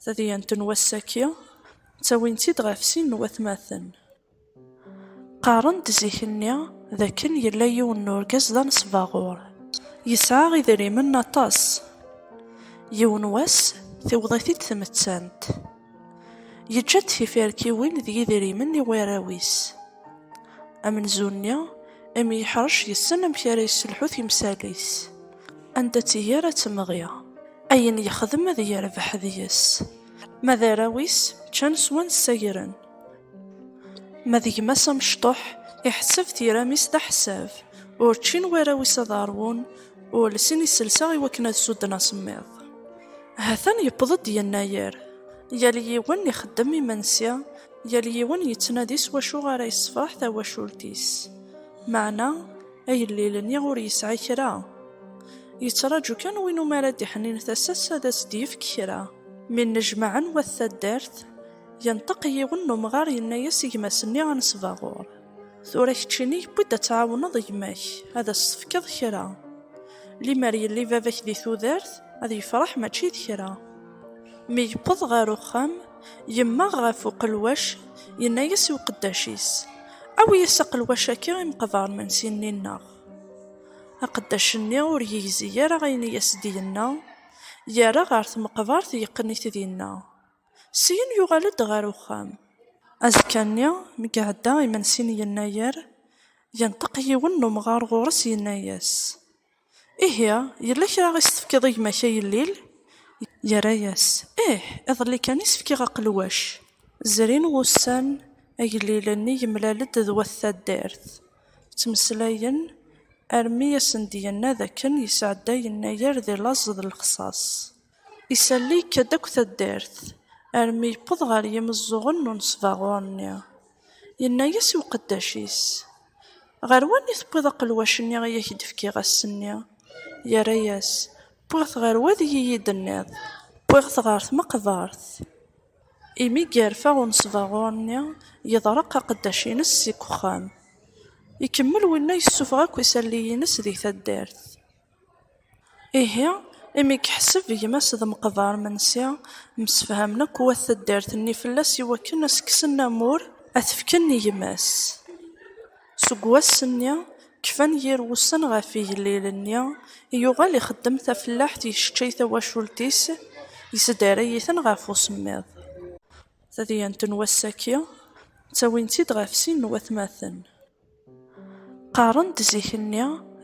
Tadyant n wass-aki, ttawin-tt-id ɣef sin n watmaten. Qqaren-d zik-nni d akken yella yiwen n urgaz d anesbaɣur, yesɛa idrimen aṭas. Yiwen wass, tiweḍ-it-id tmettant. Yeǧǧa-d tifirkiwin d yidrimen i warraw-is. Amenzu-nni, imi yeḥṛec, yessen amek ara yesselḥu timsal-is. Anda tt-iger ad temɣi. Ayen yexdem ad yerbeḥ deg-s. Ma d arraw-is ččan swan ssagren. Ma d gma-s amecṭuḥ iḥesseb tiram-is d aḥessab. Ur ččin warraw-is ad ṛwun, ur lsin iselsa i wakken ad sudden asemmiḍ. Hatan yewweḍ-d yennayer. Yal yiwen ixeddem imensi, yal yiwen yettnadi s wacu ara yessefṛeḥ tawacult-is. Meɛna. Agellil-nni ur yesɛi kra. Yettraǧu kan win umi ara d-iḥnin tasa-s ad as-d-yefk kra. Mi nnejmaɛen wat taddart, yenṭeq yiwen n umɣar yenna-as i gma-s-nni anesbaɣur, Tura keččini yewwi-d ad tɛawneḍ gma-k, ad as-tefkeḍ kra. Limer yelli baba-k di tudert, ad yefreḥ mačči d kra. Mi yewweḍ ɣer uxxam, Yemmeɣ ɣef uqelwac, yenna-yas i uqeddac-is, Awi-yas aqelwac-agi i meqbar mensi-nni-nneɣ. Aqeddac-nni ur yegzi ara ayen i as-d-yenna, yerra ɣer tmeqbert yeqqen-it dinna. Syin yuɣal-d ɣer uxxam. Azekka-nni, mi iɛedda imensi n yennayer, yenṭeq yiwen n umɣar ɣur-s yenna-yas, Ihi, yella kra i s-tefkiḍ i gma-k a yellil? Yerra-yas, Ih, iḍelli kan i s-fkiɣ aqelwac. Zrin wussan, agellilen-nni yemlal-d d wat taddart. Ttmeslayen, armi i asen-d-yenna d akken yesɛedda yennayer di laẓ d lexṣaṣ. Isali-k-d akk taddart, armi yewweḍ ɣer yimeẓẓuɣen n unesbaɣur-nni. Yenna-yas i uqeddac-is, Ɣer wani tewwiḍ aqelwac-nni i ak-d-fkiɣ ass-nni? Yerra-yas, Wwiɣ-t ɣer wad i yi-d-tenniḍ. Wwiɣ-t ɣer tmeqbert. Imi yerfa unesbaɣur-nni, yeḍreq aqeddac-ines seg uxxam. Ikemmel winna yessufeɣ akk isalli-ines di taddart. Ihi, imi yeḥseb gma-s d Meqber Mensi, msefhamen akk wat taddart-nni fell-as i wakken ad s-kksen amur, ad t-fken i gma-s. Seg wass-nni, kfan yir wussan ɣef igellil-nni, yuɣal ixeddem tafellaḥt, yesseččay tawacult-is, yesdaray-iten ɣef usemmiḍ. Tadyant n wass-agi, ttawin-tt-id ɣef sin n watmaten. Qqaren-d zik-nni d.